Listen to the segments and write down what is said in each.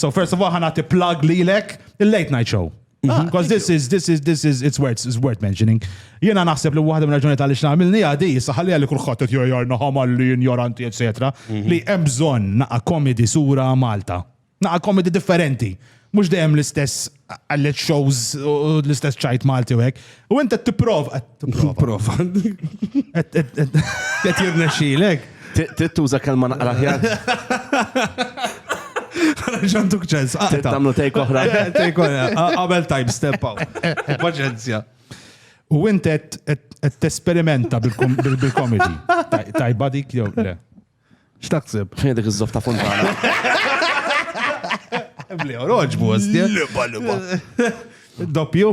So first of all, ħana ti plug li lek il-late night show. Ah, Because mhm. this is, this is, this is, it's worth, it's worth mentioning. Jena naħseb li waħda minn raġuni tal ix namilni għadi, saħalli għalli kullħat t jojar naħam għalli ignoranti, etc. Mhm. Li emżon naqa komedi sura Malta. Naqa komedi differenti. Mux dejjem l-istess għallet shows u l-istess ċajt Malti u hekk. U inti t-prov. Prova. Qed jirna xilek. Trid tuża kelma naqra ħjar. Ġantuk ċens. Trid tagħmlu tejk oħra. Tejk oħra. Qabel time step out. Paċenzja. U inti qed tesperimenta bil-komedi. Tajba dik jew le. X'taħseb? Fejn dik iż-żoff ta' Fontana? Bli oroġ bus. Liba, liba. Doppju?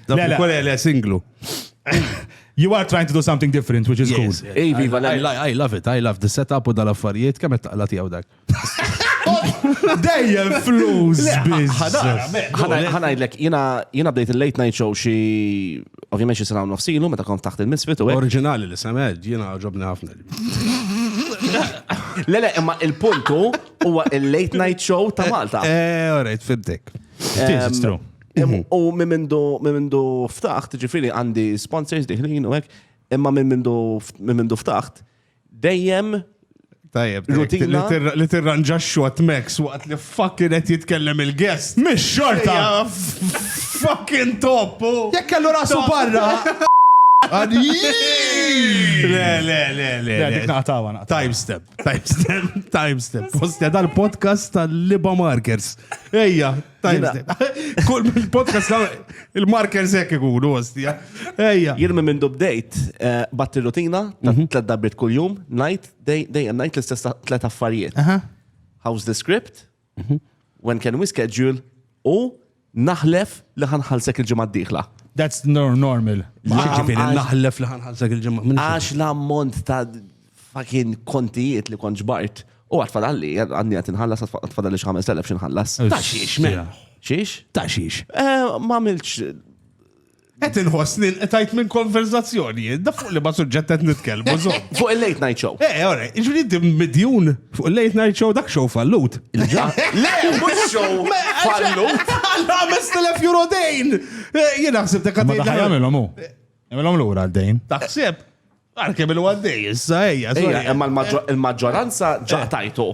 Doppju, kwale le singlu. You are trying to do something different, which is cool. Ej, viva, I love it, I love the setup u dal-affarijiet, kemm qed taqla tiegħu dak. Dejjem flus biz. Ħanajdlek, jina bdejt il-late night show xi ovvijament xi sena nofsilu meta kont taħt il-misfit u. Oriġinali li semed, jina ġobni ħafna. Le, le, imma il-puntu huwa il-late night show ta' Malta. Eh, all right, fibdek. It's true. Em, U minn mindu minn mindu ftaħt, ġifiri għandi sponsors diħlin u hekk, imma minn mindu minn mindu ftaħt, dejjem Tajjeb, Rutina. li tirranġaxxu għat Max waqt li Fuck kien qed jitkellem il-guest. Mix-xorta! Fucking top! Jekk kellu rasu barra! Le, le, le, le. Dik naqtawa naqtawa. Time step, time step, time step. Postja dal-podcast tal-Liba Markers. Ejja, time step. Kull il-podcast il-markers hekk ikunu ostja. Ejja. Jien minn minn dubdejt eh, batti rutina ta' mhm. tlet darbiet kull-jum, night, day, day and night l-istess tlet affarijiet. How's the script? Mhm. When can we schedule? U naħlef li ħanħalsek il-ġimgħa d-dieħla. That's normal. Ġifieri naħlef li ħanħalsek il-ġimgħa. Għax l-ammont ta' fakin kontijiet li kont ġbart. U għat fadalli, għadni għat inħallas, għat fadalli xħames telef xinħallas. Ta' xiex, me. Xiex? Ta' xiex. Eh, ma' milċ Qed inħoss li nqtajt minn konverzazzjoni, da fuq li ma suġġett qed nitkellmu żomm. Fuq il-late night show. Eh, ora, ġifieri inti midjun fuq il-late night show dak show fallut. Le, mhux show fallut. Alla 5000 euro dejn! Eh, Jien naħseb dak Ma daħħal jagħmilhom hu. Jagħmilhom lura d-dejn. Taħseb? Għar kemm il għaddej, issa ejja. Ejja, imma l-maġġoranza ġa eh. tajtu.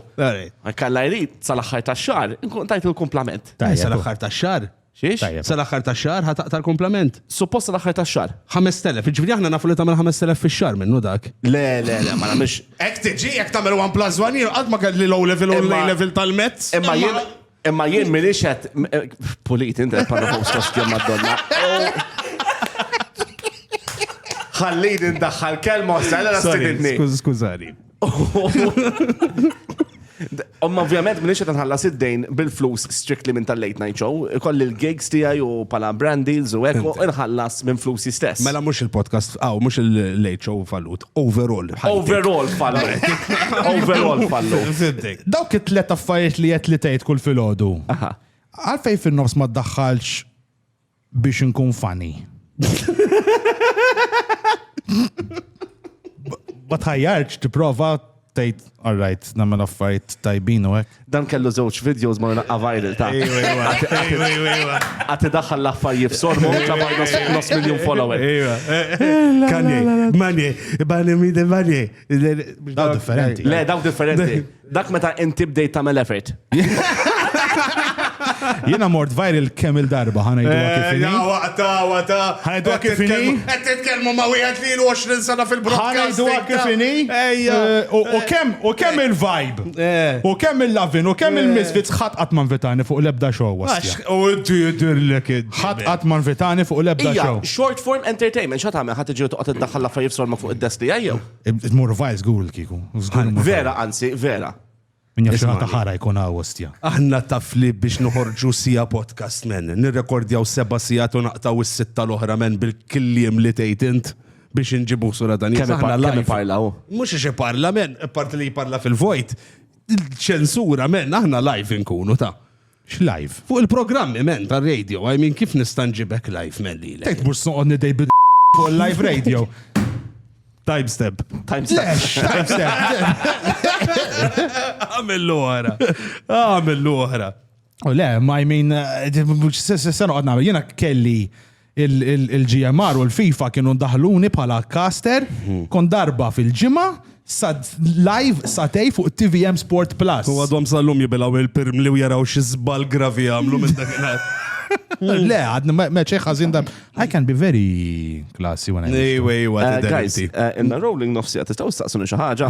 Kalla jrid sal-aħħar ta' xar, nkun tajtu l-komplament. Eh, sal-aħħar ta' xar? Xiex? Sal-aħħar ta' xar ħataq tal-komplament. Suppost sal-aħħar ta' xar. 5000, ġifri aħna nafu li tagħmel 5000 fix-xar minnu dak. Le, le, le, ma nagħmilx. Ek tiġi, ek tagħmel 1 plus 1 jien qatt ma kelli low level u level tal-mezz. Imma jien Imma jien minix qed pulit inti qed parla fuq sosti Madonna. Ħallid indaħħal kelma sala la stidni. Skużani. Omma ovvjament minix qed nħallas id-dejn bil-flus strictly minn tal-late night show, koll il-gigs tiegħi u pala brand deals u hekk u nħallas minn flusi stess. Mela mhux il-podcast, aw mhux il-late show fallut. Overall. Overall fallu. Overall fallu. Dawk it-tlet affarijiet li qed li tgħid kull filgħodu. Għalfej fin-nofs ma ddaħħalx biex inkun funny. Ma tħajjarx tipprova tgħid all right, nagħmel affarijiet tajbin u hekk. Dan kellu żewġ videos ma naqqa viral ta' għati daħħal l-affarijiet f'sormu ta' nos miljon follower. Kanye, Manye, Bani Mide Manye. Daw differenti. Le, daw differenti. Dak meta inti bdejt tagħmel effort. Jena mort viral kemm il-darba ħana jdu għakifini. Eh, ja, waqta, waqta. ħana jdu għakifini. Għed t-tkelmu ma wieħed li l-20 sena fil-broadcast. ħana jdu għakifini. Eh, u kemm, u kemm eh. il-vibe. U kemm il-lavin, u kemm il-misfits ħat għatman vitani fuq l-ebda show. U d jidirlek id. ħat għatman vitani fuq l-ebda show. Short form entertainment, xat għamil ħat iġu toqgħod id-daħħal l-affarijiet sorma fuq id-desti għajjew. Mur vice għul kiku. Vera, anzi, vera. Min jaf xi ħata ħara jkun hawn ostja. Aħna taf li biex noħorġu siegħa podcast men, nirrekordjaw seba' siegħat u naqtgħu s-sitta l-oħra men bil-kliem li tgħid int biex inġibu sura dan Kemm ipa- kemm iparla hu? Mhux ix iparla men, apparti li jparla fil-vojt, ċensura men, aħna live inkunu ta. X'live? Fuq il-programmi men tar-radio, I mean kif nista' nġibek live men lilek? Tgħid mhux se noqgħod nidej bil fuq il-live radio. Time stamp. Time stamp. Għamillu oħra. Għamillu oħra. U le, ma I mean, se noqgħod nagħmel. Jiena kelli il-GMR u l-FIFA kienu ndaħluni bħala caster, kon darba fil-ġimgħa sad live satej fuq TVM Sport Plus. U għadhom sal-lum jibilaw il-pirmli u jaraw xi żball gravi għamlu minn dak Le, għadni meċe ħazin da. I can be very classy when I. Anyway, what uh, guys, uh, in the rolling nofsi għat istaw staqsuni xaħġa.